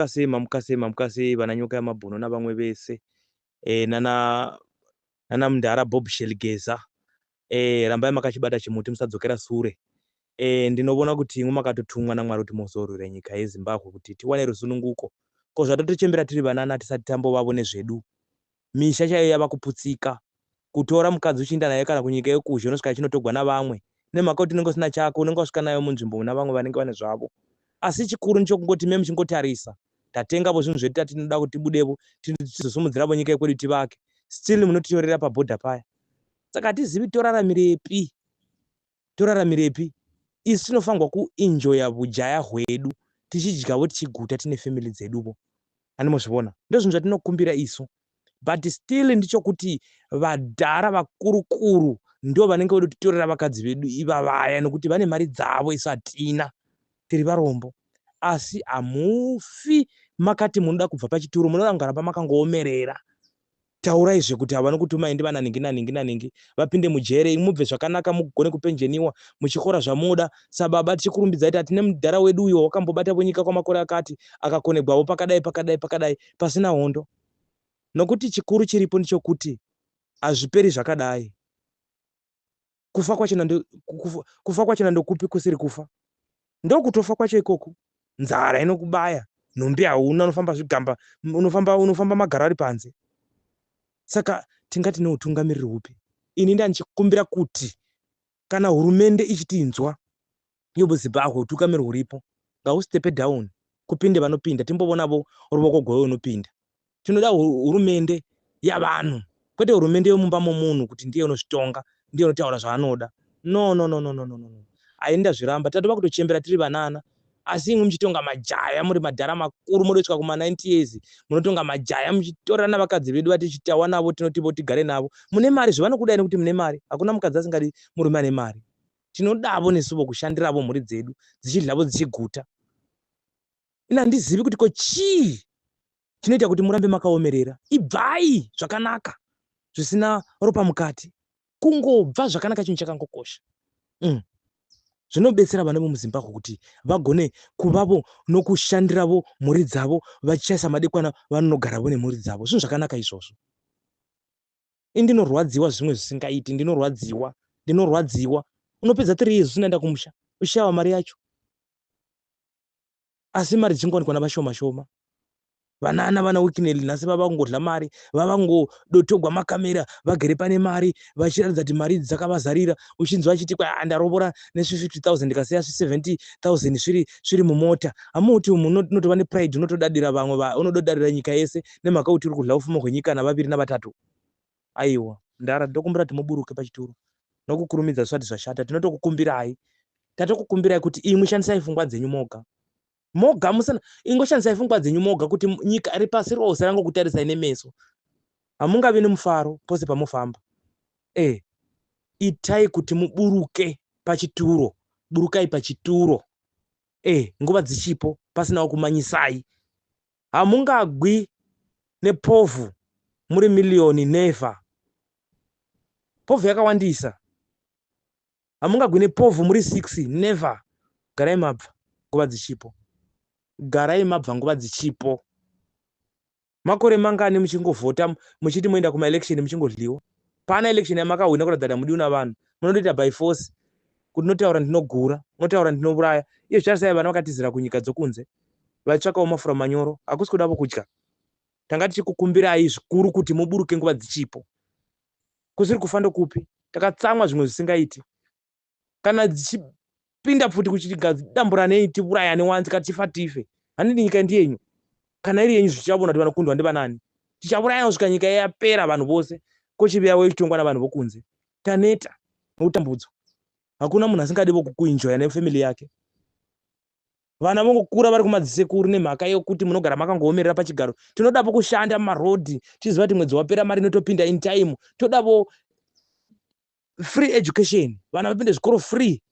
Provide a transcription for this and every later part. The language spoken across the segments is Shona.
Mamuka sei mamuka sei mamuka sei vana nyoka yamabhuno navamwe vese eh, nana nana mndara Bob Sheligeza eh, rambai makachibata chimuti musadzokera sure eh, ndinovona kuti imwe makatotumwa naMwari kuti mozorwira nyika yeZimbabwe kuti tiwane rusununguko ko zvatotichembera tiri vanana tisati tambovavo nezvedu misha chaiyo yava kuputsika. Kutora mukadzi uchiinda naye kana kunyika yokuzhe unosvika yachinotogwa navamwe nemhaka yokuti unenge usina chako unenge wasvika nayo munzvimbo muna vamwe vanenge vane zvavo. Asi chikuru ndichokungoti imi muchingotarisa tatengavo zvinhu zvedu tati tinoda kuti tibudevo tizosumudziravo nyika yekwedu tivake still munotitorera paborder paya. Saka hatizivi toraramirepi. toraramirepi isu tinofangwa kuenjoya vujaya hwedu tichidyavo tichiguta tine family dzeduvo ani mozvivona ndozvinhu zvatinokumbira isu but still ndichokuti vadhara vakurukuru ndo vanenge vode kutitorera vakadzi vedu ivavaya nokuti vane mari dzavo isu hatina tiri varombo asi hamufi makati munoda kubva pachituro munoda kungaramba makangoomerera Taurai zve kuti avo vanokutumai ndivana ningi naningi naningi vapinde mujere imi mubve zvakanaka mugone kupenjeniwa muchikora zvamoda sababa tichikurumbidzai tati nemudhara wedu uyo wakambobatavo nyika kwamakore akati akakonegwavo pakadai pakadai pakadai pasina hondo nokuti chikuru chiripo ndichokuti hazviperi zvakadai kufa kwacho nando kufa, kufa kwacho nandokupi kusiri kufa ndokutofa kwacho ikoku nzara inokubaya nhumbi hauna unofamba zvigamba unofamba unofamba magaro ari panze saka tingati neutungamiriri hupi ini ndandichikumbira kuti kana hurumende ichitinzwa Yobo Zimbabwe utukamiri huripo ngahustepe down kupinde vanopinda timbovonavo ruvoko gwewe unopinda tinoda hurumende yavanhu kwete hurumende yomumba momunhu kuti ndiye unozvitonga ndiye unotaura zvaanoda no no no no no no no no ainda zviramba tatova kutochembera tiri vanana asi imwe muchitonga majaya muri madhara makuru modosvika kuma 90 years munotonga majaya muchitorana vakadzi vedu vati chitawa navo tinotivo tigare navo mune mari zvevanokudai nekuti mune mari hakuna mukadzi asingadi murume ane mari tinodavo nesuvo kushandiravo mhuri dzedu dzichidlavo dzichiguta ini handizivi kuti ko chii chinoita kuti murambe makaomerera ibvai zvakanaka zvisina ropa mukati kungobva zvakanaka chinhu chakangokosha mm. zvinobetsera vana vemuzimbabwe kuti vagone kuvavo nokushandiravo mhuri dzavo vachishaisa madekwana vanonogaravo nemhuri dzavo zvinhu zvakanaka izvozvo ini ndinorwadziwa zvimwe zvisingaiti ndinorwadziwa ndinorwadziwa unopedza three years usinaenda kumusha ushava mari yacho asi mari dzingowanikwa navashoma shoma vana ana vana wikineli nhasi vava kungodla mari vava kungodotogwa makamera vagere pane mari vachiratidza kuti mari idzi dzakavazarira uchinzwa achiti kwa ah, ndarovora nesvi50 000 ndikasiya svi70 000 sviri sviri mumota hamuti umu unotova nepride unotodadira vamwe unododadira nyika yese nemhaka yokuti uri kudla ufuma hwenyika navaviri navatatu. Aiwa. Mdara, ndinokumbira kuti muburuke pachituro nokukurumidza zvisati zvashata. Tinotokukumbirai. Tatokukumbirai kuti imwi shandisai fungwa dzenyu moga. Moga musana, ingoshandisai fungwa dzenyu moga kuti nyika iri pasi rose rangokutarisai nemeso. Hamungavi nomufaro pose pamofamba. Eh, itai kuti muburuke pachituro. Burukai pachituro. Eh, nguva dzichipo, pasinawo kumanyisai. hamungagwi nepovhu muri million never povhu yakawandisa hamungagwi nepovhu muri six never garai mabva nguva dzichipo garai mabva nguva dzichipo makore mangani muchingovhota muchiti moenda kumaelection muchingodliwa paana election yamakahwina kuratidza kuti hamudiwi navanhu munondoita by force kuti notaura ndinogura notaura ndinouraya iye zvicharisai vana vakatizira kunyika dzokunze vaitsvakawo mafura manyoro hakusi kudavo kudya tanga tichikukumbirai zvikuru kuti muburuke nguva dzichipo kusiri kufa ndokupi takatsamwa zvimwe zvisingaiti kana dzichipinda pfuti kuchitigadzidamburanei tiurayane wanzi ka tifa tife handidi nyika ndiyenyu kana iri yenyu zvichavona kuti vanokundwa ndivanani tichaurayana kusvika nyika yapera vanhu vose kochivi yavo ichitongwa navanhu vokunze taneta nokutambudzwa hakuna munhu asingadi vokukuinjoya nefamily yake vana vongokura vari kumadzisekuru nemhaka yokuti munogara makangoomerera pachigaro tinodavo kushanda mumarodhi tichiziva kuti mwedzi wapera mari inotopinda in time todavo free education vana vapinde zvikoro free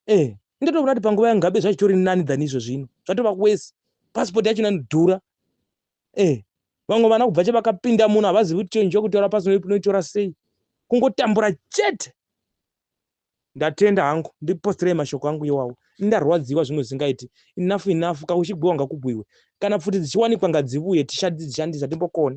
eh ndatoona kuti panguva yangabe zvachitori nani than izvo zvino zvatova kwese pasipoti yacho inodhura eh vamwe vana kubva che vakapinda muno havazivi kuti chenji yokutaura pasi noitora sei kungotambura chete Ndatenda hangu ndiposterei mashoko angu iwawo ndarwadziwa zvimwe zvisingaiti enough enough ka kuchibhowa ngakubhuiwe kana pfuti dzichiwanikwa ngadzivuye tishandise timbokone.